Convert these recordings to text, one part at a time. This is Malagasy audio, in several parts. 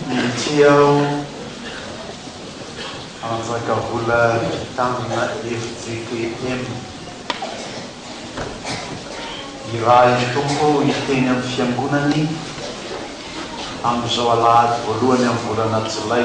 Ity aho hanjaka vola vitamina fjkm. Irahin'ny Tompo hiteny amin'ny Fiangonany amin'izao Alahady voalohany amin'ny volana Jolay.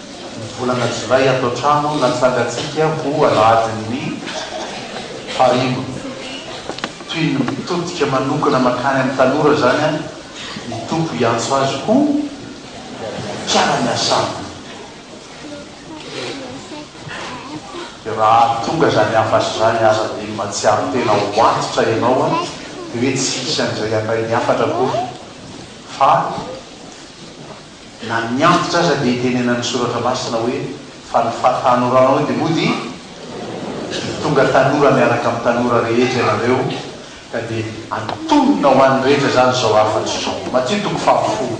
Ny volana jolay ato an-trano natsangantsika ho alahadin'ny fahariva. Toy ny mitodika manokana mankany amin'ny tanora izany ny Tompo hiantso azy ho mpiara-miasa Aminy. Dia raha tonga izany hafatra izany aza dia mahatsiaro tena ho antitra ianao dia hoe tsy hisy an'izay handray ny hafatra akory fa Na ny antitra aza dia itenenan'ny Soratra Masina hoe, Fa ny fahatanoranao dia mody dia tonga tanora miaraka amin'ny tanora rehetra ianareo, ka dia antonona ho an'ny rehetra izany izao hafatro izao. Matio toko fahafolo.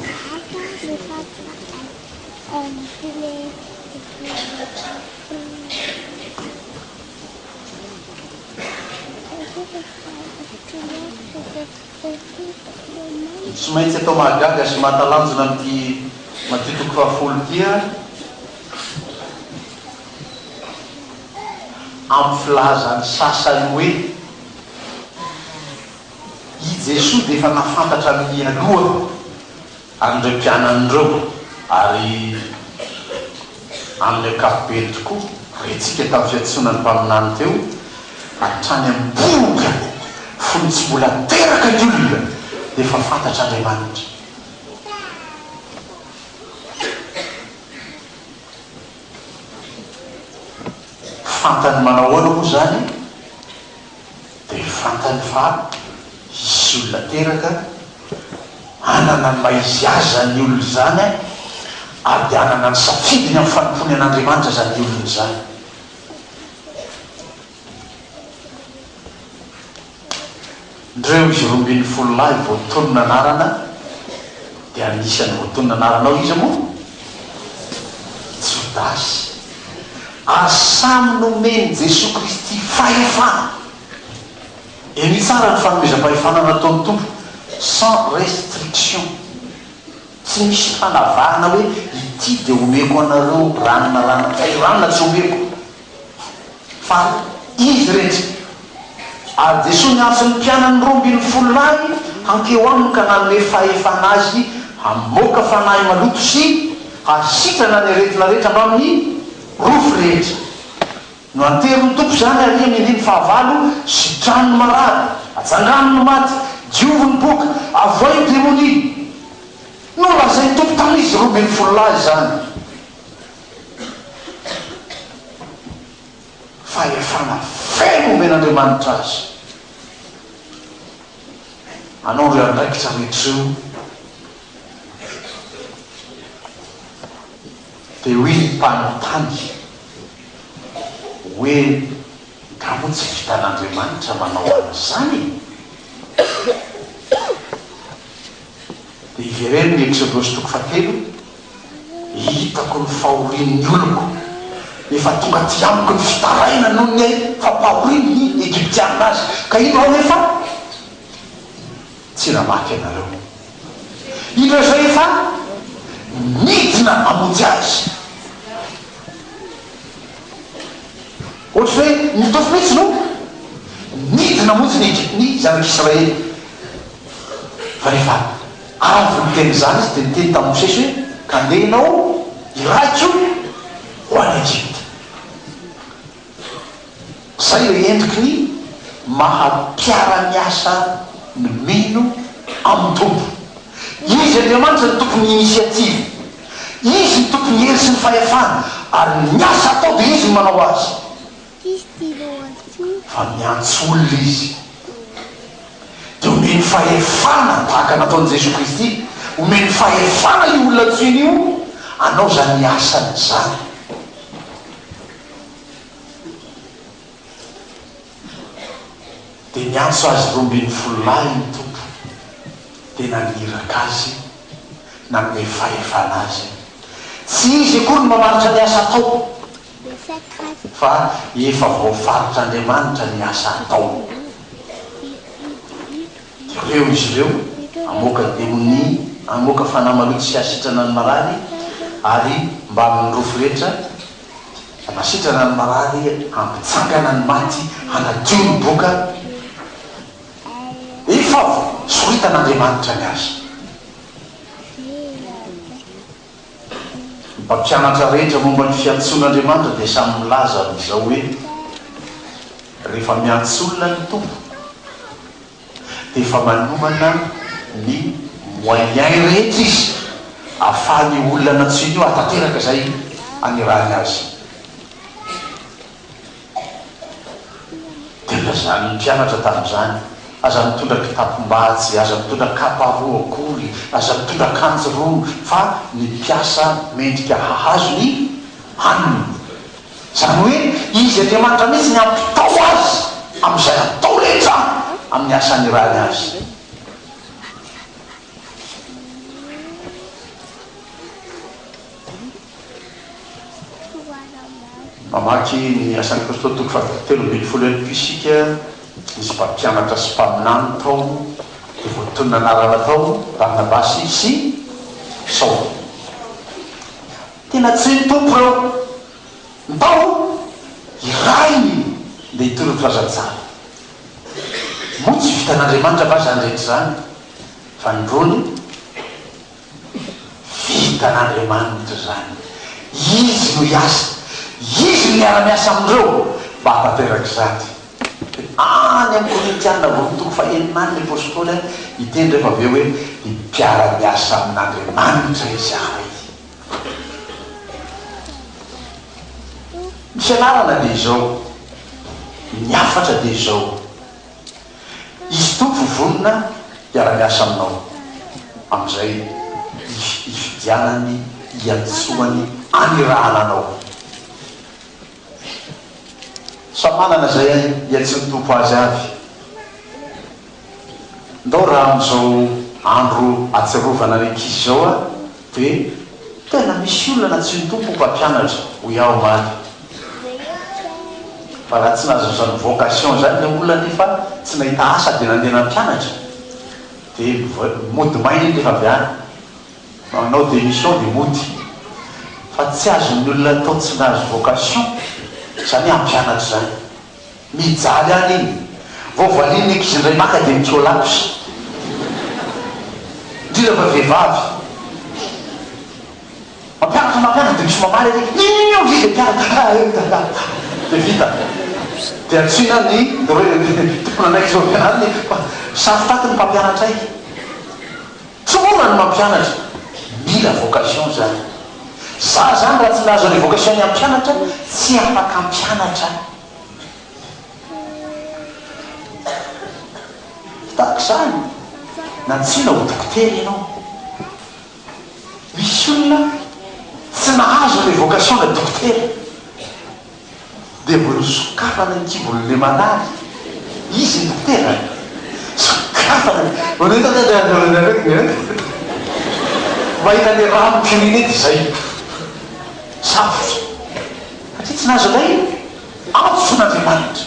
Ny tsy maintsy atao mahagaga sy mahatalanjona amin'ity Matio toko fahafolo ity an, amin'ny filazan'ny sasany hoe i Jesoa dia efa nahafantatra mialoha. an'ireo mpianany ireo ary amin'ny ankapobeny tokoa, retsika tamin'ny fiantsonan'ny Mpaminany teo, hatrany amin'ny mponina, fony tsy mbola teraka ny olona dia efa fantatr'Andriamanitra. Fantany manao ahoana moa izany? dia fantany fa hisy olona teraka hanana ny maha izy azy izany olona izany ary dia hanana ny safidiny amin'ny fanompoany an'Andriamanitra izany olona izany. Ndreo izy roa ambin'ny folo lahy voatonona anarana. Dia anisan'ny voatonona anaranao iza moa? Jodasy. Ary samy nomen'i Jesoa Kristy fahefana. Eny tsara ny fanomezam-pahefana nataon'ny Tompo, sans restriction. Tsy misy fanavahana hoe ity dia omeko anareo ranona ranona, fa i ranona tsy omeko. Fa izy iretsy, ary Jesoa niantso ny mpianany roa ambin'ny folo lahy hankeo aminy ka nanome fahefana azy hamoaka fanahy maloto sy hahasitrana ny aretina rehetra mbamin'ny rofy rehetra. Noanterin'ny Tompo izany aria ny andininy fahavalo, Sitrano ny marary, atsangano ny maty, diovy ny boka, avoay ny demonia. Nolazain'ny Tompo tamin'izy roa ambin'ny folo lahy izany. fahefana feno omen'Andriamanitra azy hanao ireo andraikitra rehetra ireo, dia hoy ny mpanontany hoe nga moa tsy vitan'Andriamanitra manao an'izany e? Dia ivereno ny Eksodos toko fahatelo Hitako ny fahorian'ny oloko, efa tonga aty amiko ny fitarainany noho ny fampahoriany ny Egyptiana azy, ka indro aho efa tsy namaky ianareo. Indro izao efa nidina hamonjy azy. Ohatry ny hoe nitofy mihitsy no nidina hamonjy ny Egyptiana ny zanak'Israely, fa rehefa. Avy niteny izany izy dia niteny tamin'i Mosesy hoe, Ka andeha ianao iray koa ho any Egypta. Izay ilay endriky ny maha mpiara-miasa ny mino amin'ny Tompo. Izy Andriamanitra no tompon'ny initiative. Izy no tompon'ny hery sy ny fahefana, ary ny asa atao dia Izy no manao azy. Fa miantso olona izy. Dia omeny fahefana tahaka nataon'i Jesoa Kristy. Omeny fahefana io olona antsoiny io hanao izany asany izany. Dia niantso azy roa ambin'ny folo lahy ny Tompo, dia naniraka azy, nanome fahefana azy. Tsy izy akory no mamaritra ny asa ataony. fa efa voafaritra Andriamanitra ny asa ataony. Reo izy reo amoaka demonia, amoaka fanahy maloto sy asitrana ny marary ary mbamin' ny rofy rehetra anasitrana ny marary hampitsangana ny maty hanadio ny boka efa voasoritana Andriamanitra ny azy. Ny mpampianatra rehetra momba ny fiantsoan'Andriamanitra dia samy milaza amin'izao hoe, Rehefa miantso olona ny Tompo, dia efa manomana ny moyens rehetra Izy ahafahan'io olona nantsoiny io hahatanteraka izay anirahany azy. Dia lazain' ny mpianatra tamin' izany, Aza mitondra kitapom-bajy, aza mitondra kapa roa akory, aza mitondra akanjo roa, fa ny mpiasa mendrika hahazo ny haniny. Izany hoe, Izy Andriamanitra mihitsy ny hampitao azy amin' izay atao rehetra amin' ny asa anirahany azy. Mamaky ny Asan'i Kristy, toko fahatelo ambin'ny folo eny koa isika. Nisy mpampianatra sy mpaminany tao, dia voatonona anarana tao, Barnabasy sy Saoly. Tena tsy ny Tompo ireo. Ntaolo iray ndeha hitory ny filazantsara. Moa tsy vitan'Andriamanitra va izany rehetra izany? Fanindroany. Vitan'Andriamanitra izany. Izy no hiasa. Izy no miara-miasa amin'ireo mba hahatanteraka izany. Dia any amin'ny Korintiana voalohany toko fahenina any ny apostoly hiteny rehefa avy eo hoe, Ny mpiara-miasa amin'Andriamanitra izahay. Ny fianarana dia izao. Ny hafatra dia izao. Izy Tompo vonona hiara-miasa aminao amin'izay ifidianany, iantsoany, anirahana anao. Samy manana izay iantsoan'ny Tompo azy avy. Ndao raha amin'izao andro atsiarovana ny ankizy izao aho, Dia tena misy olona tsy ny Tompo mpampianatra, hoy aho omaly. Fa raha tsy nahazo izany vocation izany ilay olona nefa tsy nahita asa dia nandeha nampianatra, dia mody maina iny rehefa avy any. Manao démission dia mody. Fa tsy azon'ny olona atao tsy nahazo vocation izany hoe hampianatra izany. Mijaly any iny. Vao valian'ny ankizy indray maka dia mikiolaps. Indrindra fa vehivavy. Mampianatra mampianatra dia misy mamaly ary Inona hozy izay mpianatra? Haa eh mitantara. Dia vita. Dia antsoina ny tompon'andraikitra ao am-pianarana hoe, Saro-taty ny mpampianatra ahy. Tsorina ny mampianatra, mila vocation zany. Za zany raha tsy nahazo an'io vocation ny hampianatra tsy afaka hampianatra tahaka izany na tsy na ho dokotera ianao. Misy olona tsy nahazo ilay vocation na dokotera. dia vao nosokafana ny kibon'ilay marary izy ny tenany. Sokafana ny. Vao nahita ny aretina. Mahita ny rano kirinety izay. Sarotra. Satria tsy nahazo ilay antso fon'Andriamanitra.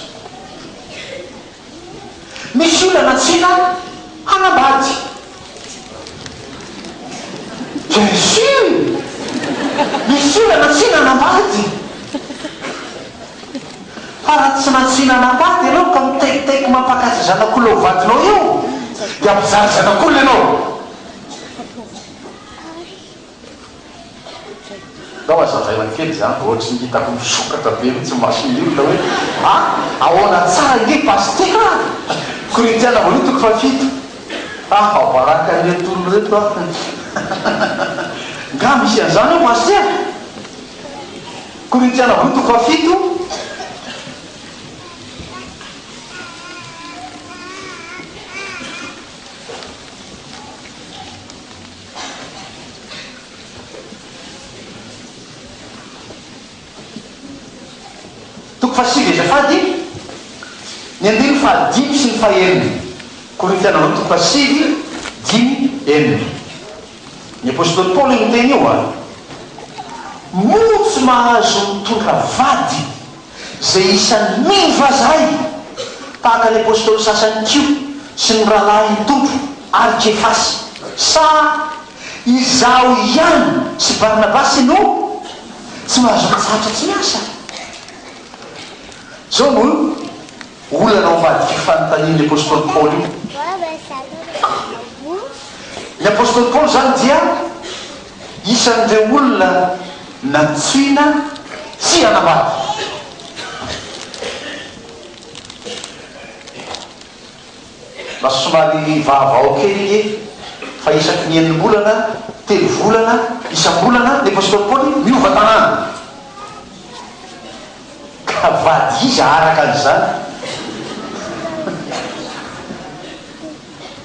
Misy olana tsika hanambady? Bien sur! Misy olana tsika hanambady! Fa raha tsy nantsina hanambady ianao ka mitaikitaiky mampakajy zanak'olona ho vadinao eo dia mpizara zanak'olona ianao! Ndao hazavaina kely izany fa ohatry ny hitako misokatra be mihitsy ny mason'ny olona hoe a! ahoana tsara ange Pasitera a! Korintiana voalohany toko fahafito a! fa baraka ireto olona ireto a! nga misy an'izany ao Pasitera? Korintiana voalohany toko fahafito. Toko fahasivy Azafady ny andininy fahadimy sy ny fahenina Korintiana Voalohany toko fahasivy, dimy, enina Ny apostoly Paoly niteny io an! Moa tsy mahazo mitondra vady? izay isan'ny mino vazaha i, tahaka ny apostoly sasany koa sy ny rahalahiny Tompro ary Kefasy. Sa izaho ihany sy Barnabasy no tsy mahazo mitsahatra tsy miasa? Izao no olana ao ambadik'io fanontanian'ny apostoly Paoly io. Ny apostoly Paoly izany dia. Isan'ireo olona nantsoina tsy hanambady. Lasa somary vaovao kely anie fa isaky ny enim-bolana, telo volana, isam-bolana ny Apostoly Paoly miova tanàna. Ka vady iza araka an'izany?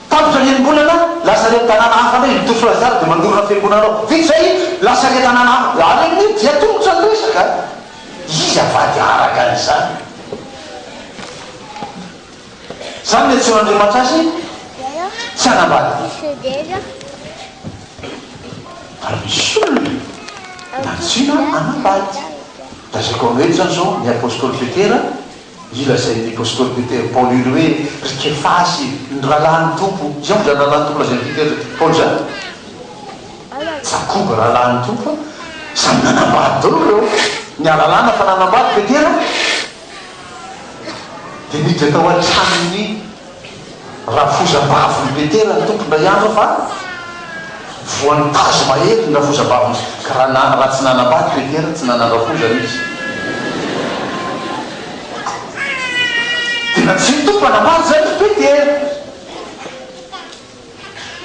Tapitra ny enim-bolana, lasa ireny tanàna hafa indray, i Toussoura Zara dia mandorona fiangonana ao. Vita izay, lasa ilay tanàna hafa. Ary amin'io dia tongotra ny resaka. Izy avady araka izany. Izany no iantsoan'Andriamanitra azy, tsy hanambady. Ary misy olona nantsoina hanambady. Lazaiko aminareo eto izany izao, ny apostoly Petera, Io lazain'ny apostoly Petera, Paoly io, hoe ry Kefasy, ny rahalahin'ny Tompo. Izany moa izany rahalahin'ny Tompo lazain'i Petera, Paoly izany? Jakoba rahalahin'ny Tompo, samy nanambady daholo ireo. Niala lana fa nanambady Petera, dia niditra tao an-tranon'ny. Rafozambavin' i Petera ny tompon-dra Yaveh fa voan'ny tazo mahery ny rafozambavin' izy, ka raha na, raha tsy nanambady Petera, tsy nanan-drafozana izy. Tena tsy ny Tompo nanambady izany ry Petera.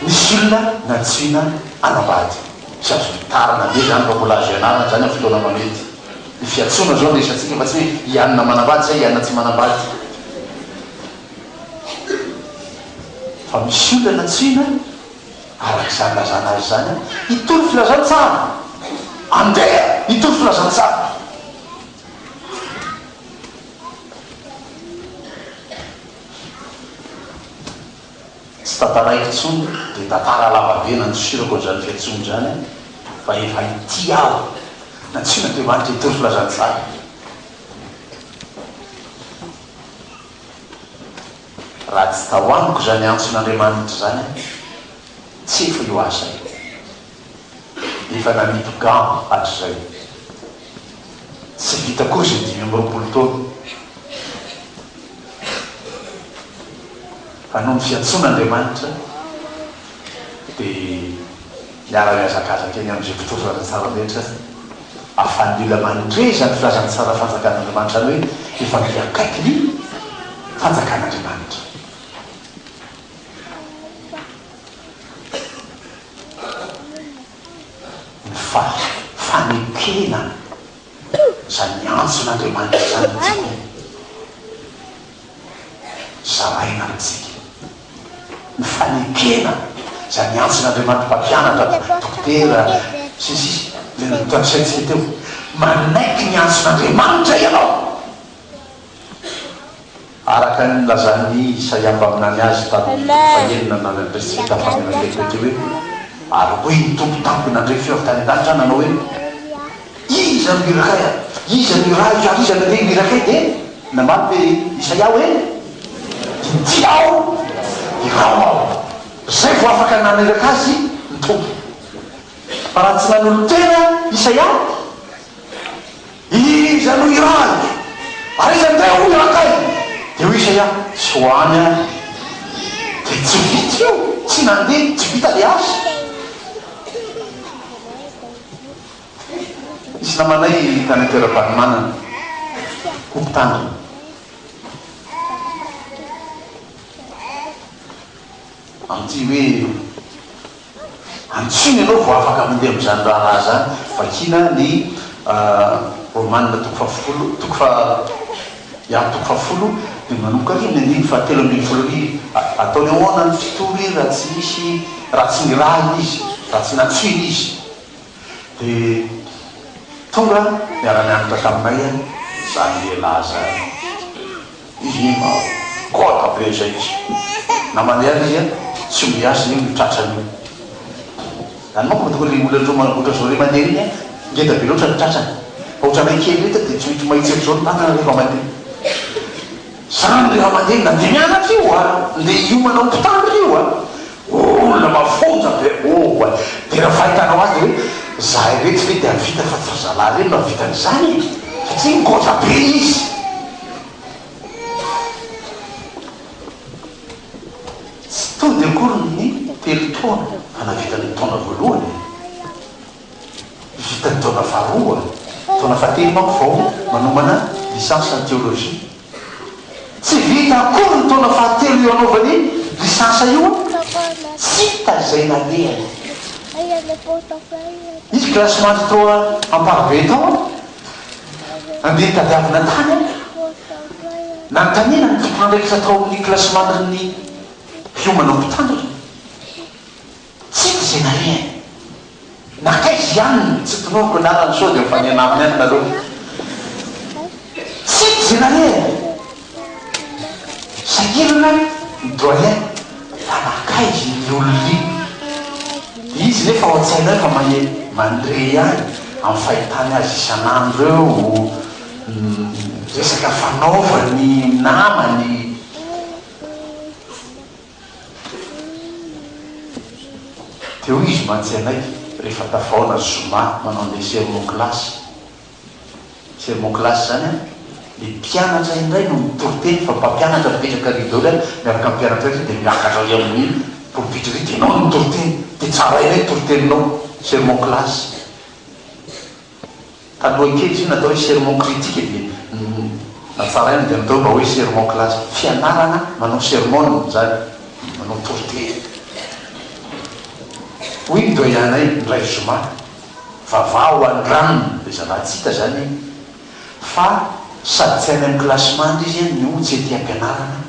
Nisy olona nantsoina hanambady sa zony tara na dia izany mba mbola azo ianarana izany amin'ny fotoana manety. Ny fiantsoana izao no resatsika fa tsy hoe i anona manambady sa i anona tsy manambady. Fa misy olona nantsoina araka izany ilazana azy izany hitory filazantsara. Andeha hitory filazantsara. Tsy tantaraiko intsony le tantara lava be nandosirako an'izany fiantsoana izany fa efa ity aho nantsoina Andriamanitra hitory filazantsara. Raha tsy tao amiko izany antson'Andriamanitra izany, tsy efa io aho izay. efa nanidy gants hatrizay. Tsy vita koa izay dimy amby roapolo taona. Fa noho ny fiantsoan' Andriamanitra dia niara-nihazakazaka eny amin'izay mpitory filazantsara rehetra ary fanilo aman-dre izany filazantsara fanjakan' Andriamanitra izany hoe efa miakaiky ny fanjakan' Andriamanitra. ny fa fanekena izany antson'Andriamanitra izany amintsika zaraina amintsika, ny fanekena izany antson'Andriamanitra mpampianatra, dokotera, sy ny sisa Ilay notanisaintsika teo, manaiky ny antson'Andriamanitra ianao. Araka ny nilazan'i Isaia mpaminany azy tamin'ny fito fahenina na ny Andriantsika tamin'ny faminaniana telo teo dia hoe, Ary hoy ny Tompo tamiko nandre feo avy tany an-danitra aho nanao hoe, Iza no hirak' ahy ary iza no hirahiko ary iza no te hirak' ahy? Dia namaly be Isaia hoe, Inty aho, iraho aho. Izay vao afaka naniraka azy ny Tompo. Fa raha tsy nanolo-tena Isaia, Iza no irany? Ary iza ndray hono irakay? Dia hoy Isaia, Tsy ho any aho. Dia tsy vita io, tsy nandeha, tsy vita ilay asa. Nisy namanay tany an-toeram-panomanana, ho mpitandrina. Amin'ity hoe. Antsoina ianao vao afaka mandeha amin'izany raharaha izany, vakiana ny Romanina toko fahafolo toko faha ya toko fahafolo dia manomboka ry ny andininy fahatelo ambin'ny folo ry Ataony ahoana ny fito ry raha tsy misy raha tsy nirahiny izy, raha tsy nantsoina izy dia tonga niara-nianatra taminay izany lehilahy izany. Hihina aho koa tabe izay izy. Na mandeha ary izy tsy miasa iny ny tratrany iny. Any manko mba tokony olona roa manamboatra izao iray mandeha iny an! Ngeda be loatra ny tratrany. Fa ohatran'ilay kely ireto dia tsy maintsy mahitsy erizao ny vatana rehefa mandeha. Izany rehefa mandeha na dia mianatra io a! Ndeha hiomana hopitaly ry io a! Olona mafonja be oh a! Dia raha fahitanao azy dia hoe izahay ireto ve dia vita fa tsy ry zalahy ireny no hahavita an'izany e! Satria ngota be izy. Tsy tody akory ny telo taona fa navita ny taona voalohany e! Vita ny taona faharoa, taona fahatelo manko vao manomana licence en théologie. Tsy vita akory ny taona fahatelo io anaovany iny licence io an! Tsy hita izay nalehany. Nisy classement trop amparibe tao an! Nandeha nitadiavina tany aho, nanontaniana ny tompon'andraikitra tao amin'ny kilasimandrin'ny mpiomana ho mpitandrina. Tsy haiko izay narehany. Nankaiza ihany ny tsy tononiko anarany sao dia mifanena aminy ihany nareo. Tsy haiko izay narehany. Inona ny doyen fa nakaiky iny olona iny izy nefa ao an-tsaina ao efa maheno mandre ihany amin'ny fahitany azy isan'andro eo resaka fanaovany namany dia hoy izy mantsy anay rehefa tafahaona zoma manao ny desert ny classe Thermoclass izany an! Ny mpianatra indray no mitoriteny fa mpampianatra mipetraka ary daholo an! Miaraka amin'ny mpianatra indray dia miakatra ary amin'ny pulpit ary dia ianao no mitoriteny! Dia tsara indray ny toriteninao! Thermoclass. Taloha kely izy io natao hoe sermon critique dia natsaraina dia natao mba hoe Thermoclass. Fianarana manao sermon izany, manao toriteny. Hoy ny doyen-nay indray zoma. Vava ho an'ny ranony dia zava tsy hita zany fa sady tsy any amin'ny classement izy a no tsy aty ampianarana,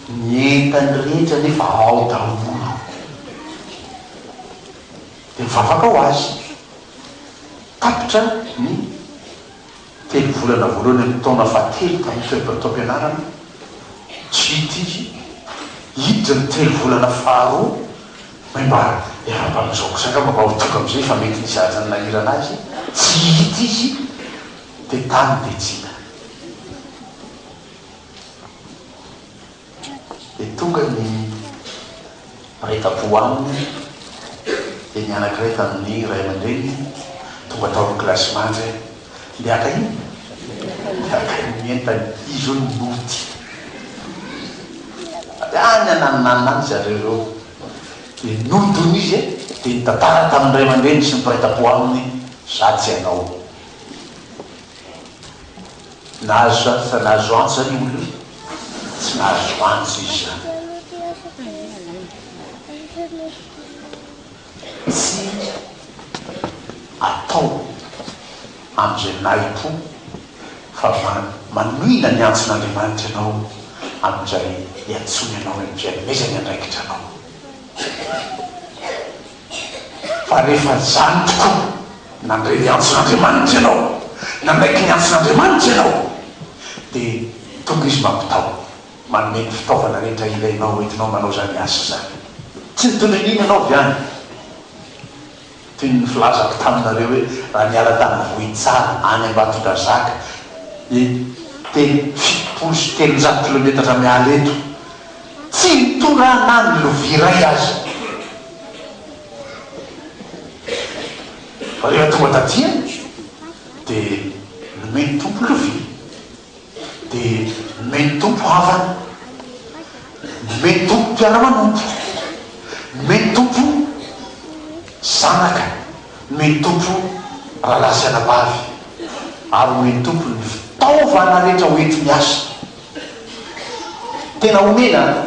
ny entany rehetra nefa ao daholo dia mivavaka ho azy tapitra ny Telo volana voalohany amin'ny taona fahatelo tamin'ny Club taom-pianarana, GT, hiditra ny telo volana faharoa hoe mba iaraha-mpanao zao kosa angamba mba ho tonga amin'izay fa mety nisy hajan'ny nahirana azy tsy hihita izy dia tany Betsinda. Dia tonga ny mpaita-po aminy, dia ny anankiray tamin'ny ray aman-dreniny tonga tao amin'ny kilasy manja hoe, Ndeha haka inona? Ndeha haka ny entany. Izy io no nody. Avy any ananonanona any zareo ireo, dia nody hono izy e! Dia nitantara tamin'ny ray aman-dreniny sy ny mpaita-po aminy hoe, Za tsy hanao. Nahazo izany fa nahazo antsa io olo io? Tsy nahazo antsa izy izany. Tsy atao amin'izay nahim-po fa manohina ny antson'Andriamanitra ianao amin'izay iantsoany anao, amin'izay amezany andraikitra anao. Fa rehefa izany tokoa, nandre ny antson'Andriamanitra ianao, nanaiky ny antson'Andriamanitra ianao, dia tonga Izy mampitaho, manome ny fitaovana rehetra ilainao hoentinao manao izany asa izany. Tsy nitondra an'iny ianao avy any? Toy ny filazako taminareo hoe, raha niala tany Vohitsara any Ambatondrazaka, dia teny fitopolo sy telonjato kilometatra miala eto, Tsy nitorahana na ny lovia iray aza. Rehefa tonga taty aho dia nomen'ny Tompo lovia, dia nomen'ny Tompo havana, nomen'ny Tompo mpiara-manompo, nomen'ny Tompo zanaka, nomen'ny Tompo rahalahy sy anabavy, ary nomen'ny Tompo ny fitaovana rehetra hoenti-miasa. Tena omena an!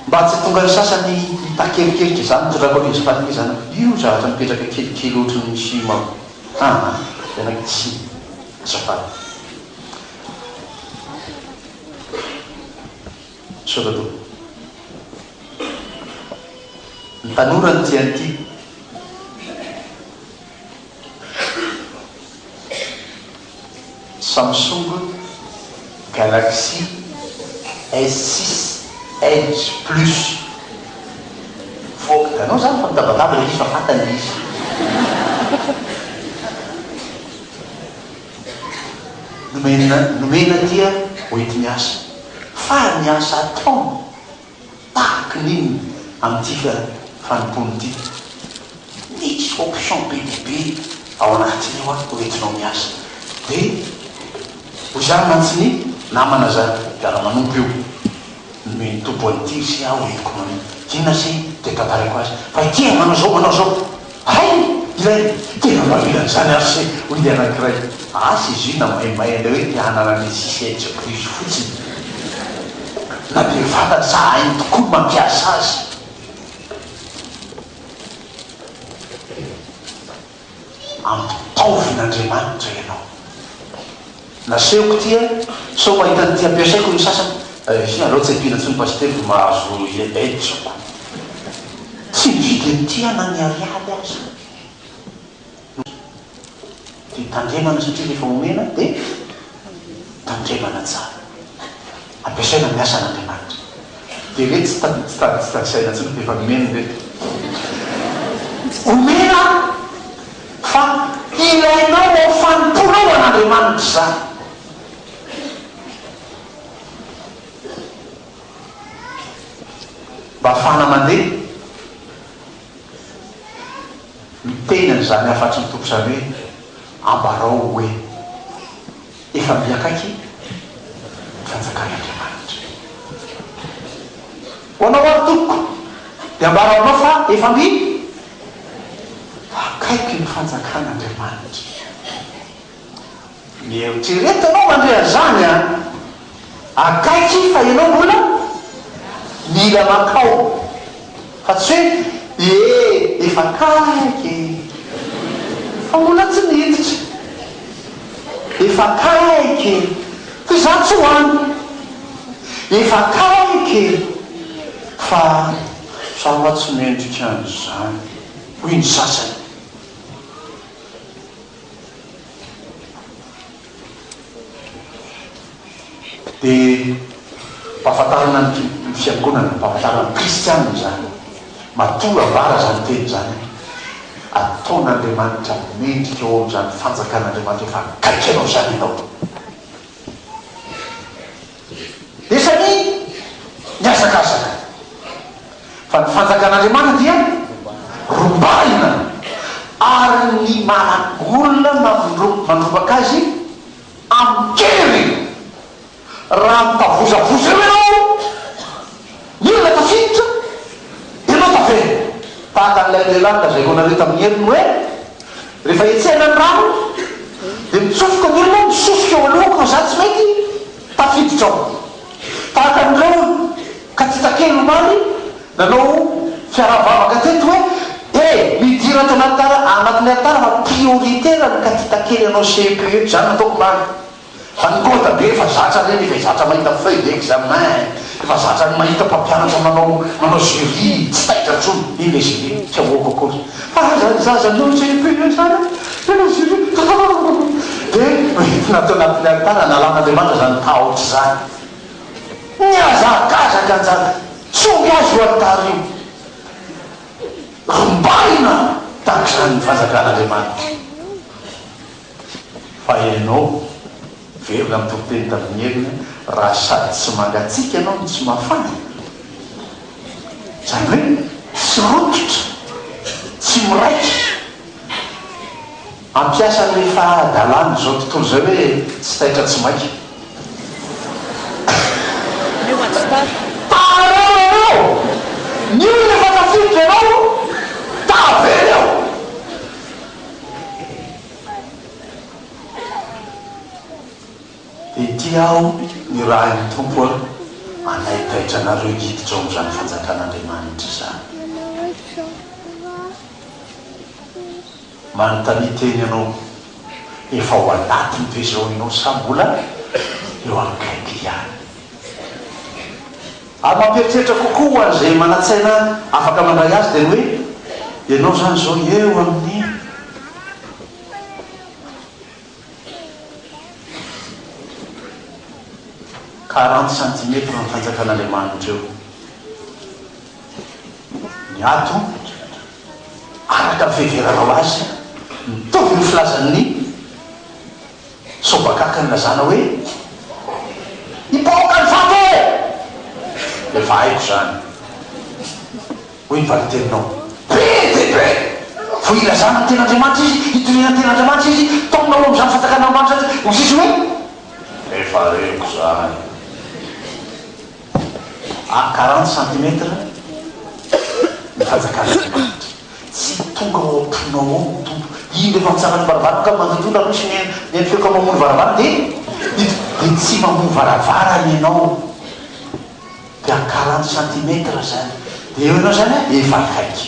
Mba tsy tonga ny sasany hitaky erikerika izany mitondra koa lesy fanomezana io zavatra mipetraka kelikely ohatry ny film ao an! Tena tsy azafady. Misaotra tompoko. Ny tanora no tian'ity. Samsung Galaxy S six Edge Plus Voaka hitanao zany fa mitabataba ilay izy fa fantany ilay izy. Nomena nomena aty a hoenti-miasa. Faly miasa atao. Tahaka ny inona amin'ity fanompoana ity? Misy option be dia be ao anatiny ao an, hoentinao miasa. Dia hoy izany mantsy ny namana zany mpiara-manompo io, Nomen'ny Tompo an'ity ry se a, hoentiko manao inona se? Dia tantaraiko azy fa ity e, manao izao, manao izao. Hay! Ilay tena mahavita an'izany ary se hoy ny anankiray, asa izy io na maimay an'ilay hoe te hanana ny CCH plus fotsiny. Na dia fantany sa hainy tokoa ny mampiasa azy. Ampitaovin' Andriamanitra ianao. Nasehoko ity a! Sao mahita an'ity ampiasaiko ny sasany. Ehe aleo tsy ampiana intsony pasitely vao mahazo hetsoko. Tsy ny vidiny tia na ny ariary aza no tia tandremana satria rehefa omena dia tandremana tsara. Ampiasaina ny asan' Andriamanitra. Dia re tsy tadisaina intsony fa efa nomeny re. Omena fa ilainao ao am fanompoanao an Andriamanitra izany. Mba afahana mandeha miteny an izany hafatry ny Tompo izany hoe ambarao hoe. Efa be akaiky ny fanjakan'Andriamanitra. Ho anao ary tompoko dia ambara aminao fa efa be akaiky ny fanjakan'Andriamanitra. Mieritrereta ianao mandre an'izany an! Akaiky fa ianao mbola mila makao fa tsy hoe ee efa akaiky ee fa mbola tsy miditra efa akaiky ee fa izaho tsy ho any efa akaiky ee fa izaho hoa tsy mendrika an'izany hoy ny sasany. Dia mpahafantarana ny fiangonana, mpahafantarana ny kristiana izany. Matoa avara izany teny izany, ataon'Andriamanitra mendrika eo amin'izany fanjakan'Andriamanitra efa akaiky anao izany ianao. Efa ny mihazakazaka. Fa ny fanjakan'Andriamanitra dia rombahina, ary ny managolona mandrombaka azy amin-kery. Raha mitavozavoza eo ianao, Inona ilay tafiditra? Ianao tavela. Tahaka an'ilay lehilahy nolazain'onareo tamin'ny heriny hoe, Rehefa hetsehana ny rano, dia mitsofoka ny olona, misosoka eo alohako fa izaho tsy mety, tafiditra ao. Tahaka an'ireo katita kely omaly nanao fiaraha-mivavaka teto hoe, E! Midira ato anaty anatin'ny alitara fa prioritaire ny katita kely hanao CEPE eto. Izany nataoko omaly. Fa ny code ve efa zatra re rehefa zatra mahita feuille d'examen efa zatra mahita mpampianatra manao manao jury tsy taitra tsony iny le jury tsy avoako akory fa raha zany zaza nanao CEP ndray zany a tena jury hahahaha de hoentina tao anatin'ny alitara analan'Andriamanitra zany tahotra zany mihazakazaka njany tsy omby azy io alitara io rombahina tahak'izany ny fanjakan'Andriamanitra. Fa ianao, miverina amin'ny toriteny tamin'ny heriny, raha sady tsy mangatsiaka ianao no tsy mafana, izany hoe tsy rototra, tsy miraika, hampiasa an'ilay fahadalan'izao tontolo izay hoe tsy taitra tsy maika. Tara aho ianao! Ny olona efa tafiditra ianao, tavela eo! Dia tia aho ny rahin'ny Tompo a, anay taitra anareo hiditra ao amin'izany fanjakan'Andriamanitra izany. Manontania teny ianao, efa ao anatiny ve izao ianao sa mbola eo akaiky ihany? Ary mampieritreritra kokoa ho an'izay manan-tsaina afaka mandray azy dia ny hoe, ianao izany izao eo amin'ny quarante centimètres ny Fanjakan'Andriamanitra eo. Ny ato, araka ny fiheveranao azy, mitovy ny filazan'ny. Sao bakaka ny lazana hoe hipoka ny vato e! Efa haiko izany. Hoy ny valin-teninao. Be dia be! Vao ilazana ny ten'Andriamanitra izy, itoriana ny ten'Andriamanitra izy, taomina ao amin'izany fanjakana Andriamanitra izany izy, hoy ny sisa hoe. Efa reko izany. à quarante centimètres ny fanjakan'Andriamanitra. Tsy tonga ao am-ponao ao ny Tompo. Indro efa mitsangana ny varavarana ka mandontondra aloha sy mihaino mihaino feoko amin'ny mamono varavarana dia miditra dia tsy mamoha varavarana ianao dia à quarante centimètres izany dia eo ianao izany an efa akaiky.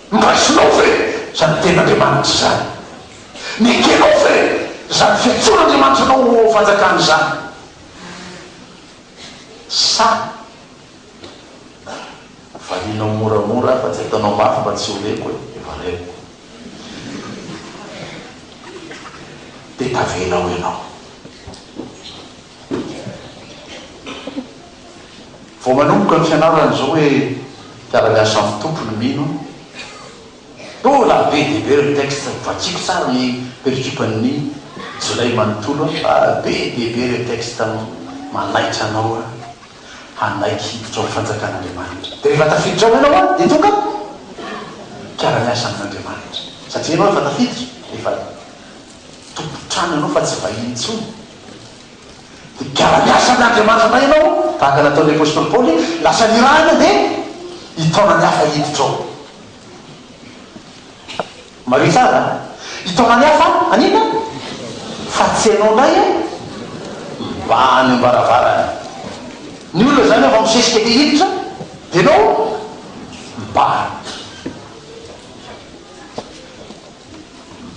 Masinao ve izany Tenin'Andriamanitra izany? Nekenao ve izany fiantsoan'Andriamanitra anao ho ao amin'ny Fanjakany izany? Sa varianao moramora fa tsy ataonao mafy mba tsy ho reko e? Efa reko. Dia tavenao ianao. Vao manomboka ny fianarana izao hoe mpiara-miasa amin'ny Tompo ny mino, mbola be dia be ireo textes, vakiako tsara ny pericupan'ny jolay manontolo fa be dia be ireo textes manaitra anao hanaiky hiditra ao fanjakan'Andriamanitra. Dia rehefa tafiditra ao ianao dia tonga mpiara-miasa amin'Andriamanitra satria ianao efa tafiditra, efa tompon-trano ianao fa tsy vahiny intsony. Dia mpiara-miasa amin' Andriamanitra indray ianao, tahaka ny nataon' ny apostoly Paoly, lasa nirahina dia hitaona ny hafa hiditra ao. Mariho tsara a! Hitaona ny hafa haninona? Fa tsy ianao indray a! Mba any am-baravarana. Ny olona izany efa misesika te hiditra, dia ianao mibahana.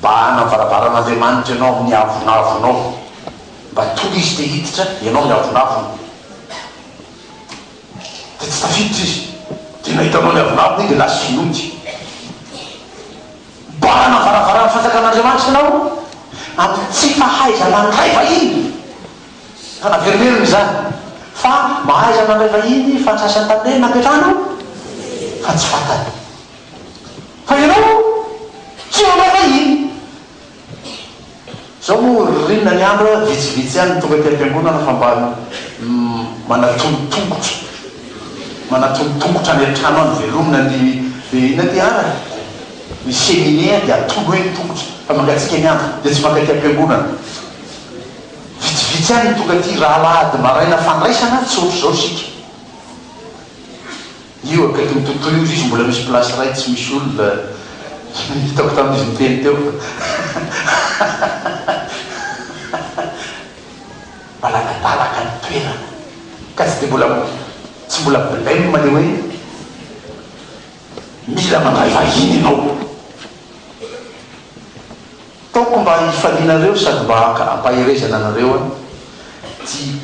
Mba hanana varavaran'Andriamanitra ianao amin'ny avonavonao, mba tonga Izy te hiditra ianao ny avonavony, dia tsy tafiditra Izy, dia nahita anao ny avonavony dia lasa Izy nody. Mba hanana varavaran'ny fanjakan'Andriamanitra ianao amin'ny tsy fahaizana handray vahiny, ka naverimeriny izany, fa mahaiza mandray vahiny fa ny sasany tamin'ireny napetrahana fa tsy fantany. Fa ianao tsy manao hoe iny. Izao moa ririnina ny andro a, vitsivitsy ihany ny tonga aty am-piangonana fa mba manatony tongotra, manatony tongotra any an-trano any, velomina ny dia inona aty an, ny cheminée an, dia atony eo ny tongotra, fa mangatsiaka ny andro, dia tsy mankaty am-piangonana. Vitsivitsy ihany ny tonga aty raha alahady maraina fandraisana, tsy ohatr'izao isika. Io akaikin'ny tontolo io izy mbola misy place iray tsy misy olona hitako tamin' izy niteny teo fa maladadalaka ny toerana ka tsy dia mbola tsy mbola blem le hoe mila mandray vahiny ianao. Taoko mba hifalianareo sady mba haka ampaherezana anareo an ty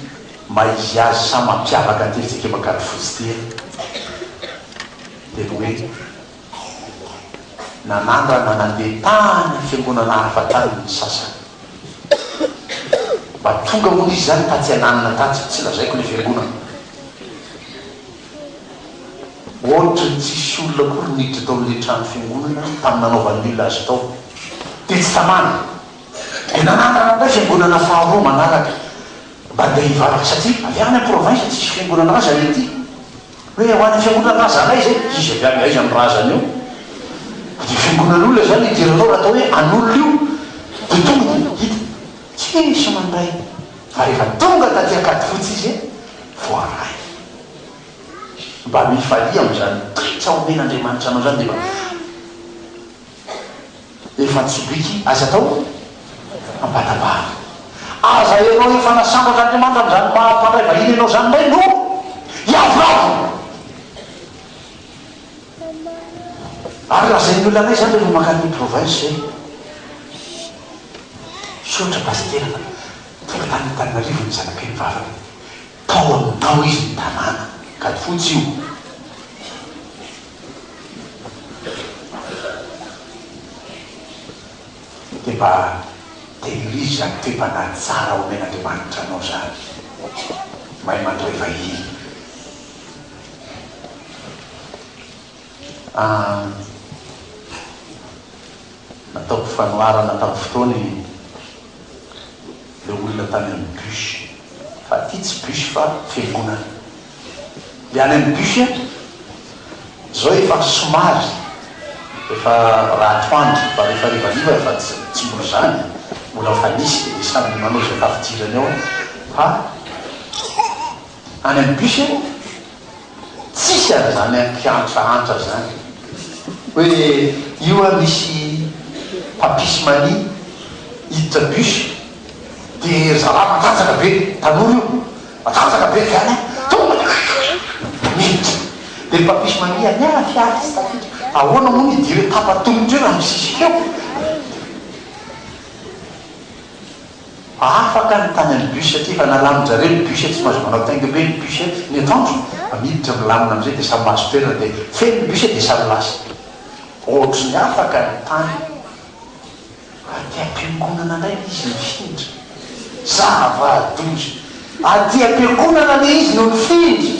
maha izy azy sa mampiavaka an ty ry Jekema Kady Fotsy ty an dia ny hoe nanandrana nandeha tany fiangonana hafa tany ny sasany mba tonga hono izy zany taty ananina taty tsy lazaiko le fiangonana Ohatry ny tsisy olona akory niditra tao amin'ilay trano fiangonana tamin'ny nanaovan'ny olona azy tao. Tetsy Tamale, dia nanangana indray fiangonana faharoa manaraka mba handeha hivavaka satria avy any am-province tsisy fiangonana aza ny aty. Hoe ho any fiangonan'ny razanay izay, izy avy any aiza ny razany eo? Dia fiangonan'olona izany idiranao raha atao hoe an'olona io dia tonga dia hita tsisy mandray fa rehefa tonga taty Ankadifotsy izy voaray. Mba mifalia amin'izany toetra omen'Andriamanitra anao izany dia efa efa tsy week aza atao ambatabanga. Aza ianao efa nasambatr'Andriamanitra amin'izany maha mpandray vahiny ianao izany indray no hiavolavola. Ary lazain'ny olona anay izany rehefa mankany province hoe misaotra pasitera fa tonga tany Antananarivo ny zanakay mivavaka. Tao aminao izy ny tanàna, kady fotsy io. Dia mba tehirizo izany toe-panahy tsara omen'Andriamanitra anao izany. Mahay mandray vahiny. An. Nataoko fanoharana tamin'ny fotoana i ilay olona tany amin'ny bus fa ity tsy bus fa fiangonana. Dia any amin'ny bus an, izao efa somary efa raha atoandro fa rehefa harivariva efa tsy mbola izany, mbola efa nisy dia samy manao izay tafidirany ao fa any amin'ny bus an, Tsisy ary zany an mpiantsaantra zany hoe io an misy papisy mania hiditra bus de ry zalahy matanjaka be tanora io matanjaka be zany an tonga de kikikikikikik miditra de ry papisy mania an miala fiara tsy tafiditra ahoana moa ny idiran'ny tapa tongotra io raha misisika eo? Afaka ny tany amin'ny bus aty fa nalamin-jareo ny bus tsy mahazo manao tainga be ny bus ny atoandro fa miditra milamina amin'izay dia samy mahazo toerana dia feno ny bus dia samy lasa. Ohatry ny afaka ny tany aty am-piangonana indray ilay izy nifindra. Zava-doza. Aty am-piangonana ilay izy no nifindra.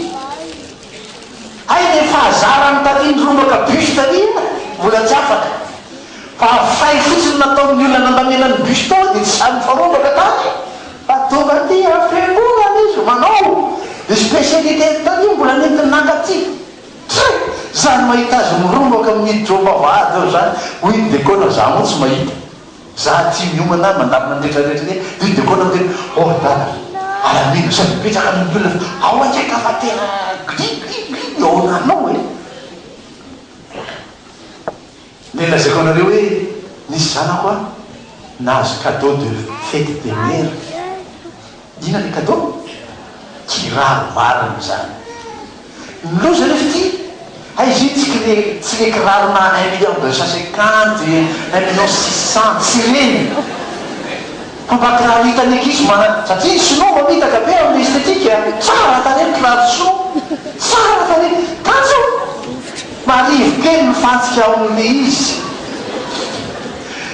Hay le fahazarany taty nirongaka bus taty iny mbola tsy afaka fa fay fotsiny nataon'ny olona nandamena ny bus tao dia tsy zary nifarongaka tany fa tonga aty a fiangonana izy manao dia spécialité-ny taty mbola nentiny naka aty Try! zany mahita azy mirongaka miditra ao am-bavahady ao zany hoy i Dekona za moa tsy mahita Za tia miomana mandamina ny rehetra rehetra anie de de kona miteny oh la la ary amena sao de betsaka ny olona fa ao anie ka fa tena gri gri gri ny ao ananao e! Le lazaiko anareo hoe nisy zanako an nahazo cadeau de fete des mères Inona le cadeau? Kiraro marina izany. Ny loza anefa ity, hay izy io tsy kle tsy le kirarona un million deux cent cinquante, un million six cents, tsy ireny fa mba kiraro hitan'ny ankizy mana satria ny sinoa mamitaka be amin'ny esthétique a! Tsara tarehy ny kiraro sinoa, tsara tarehy, kanjo! Marivo kely mifantsika ao amin'ilay izy.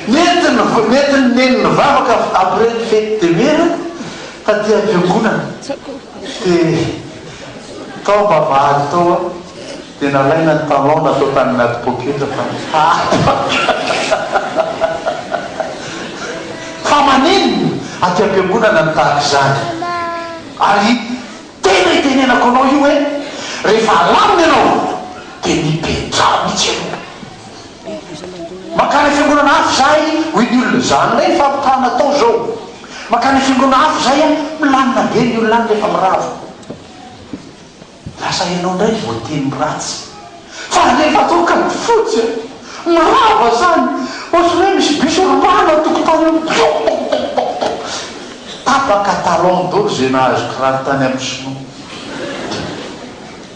Nety nety neny nivavaka après ny fety de mera taty ampiangonana de tao mba vary tao aho de nalaina ny talon natao tany anaty poketra fa fa maninn aty ampiangonana ny tahaka izany ary tena itenenako anao io hoe rehefa alamina ianao de mipetraha mitsy ianao Mankany fiangonana hafa izahay, hoy ny olona. Izany indray ny fampitahana atao izao. Mankany fiangonana hafa izahay an! Milamina be ny olona any rehefa mirava. Lasa ianao indray voateny ratsy. Fa rehefa toaka ny fotsy an! Mirava izany. Ohatran'ny hoe misy bus rongana ao an-tokotany ao. Pop pop pop pop pop. Tapaka talon dolo izay nahazo kiraro tany amin'ny sinoa.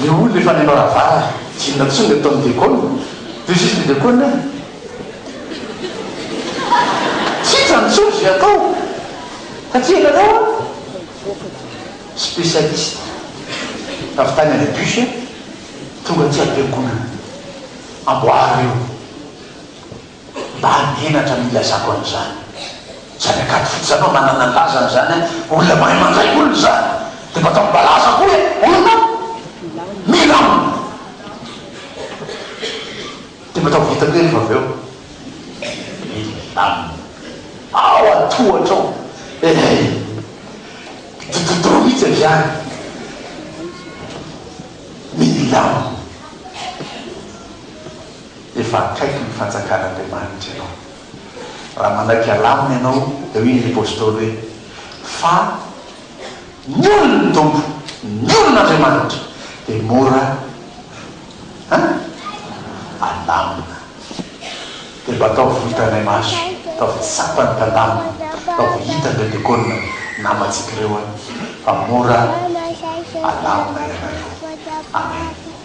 Le olona efa any amravara inona intsony le ataony Déconne de juste ny Déconne an! Tsy hitan intsony ze atao fa tia anareo an! Spécialiste avy tany any bus tonga aty am-piangonana amboary eo. mba hanenatra ny ilazako an'izany. Tsy any an-kady fotsiny izany no ananana ny lazany izany an! Olona mahay mandraiky olona izany, dia mba ataony balaza koa hoe olona mila olona. Dia mba ataovy hita koa irefa avy eo milamina ao an-tohatra ao. Ehey! Dododoro mihitsy avy any. Milamina. Efa akaiky ny fanjakan'Andriamanitra ianao. Raha manaiky halamina ianao, dia hoy ny apostoly hoe, Fa ny olon' ny Tompo, ny olon' Andriamanitra, dia mora alamina. Dia mba ataovy ho hitanay maso, ataovy tsapa ny tandamina, ataovy ho hitan'ireo diakona namantsika ireo fa mora alamina ianareo. Amena.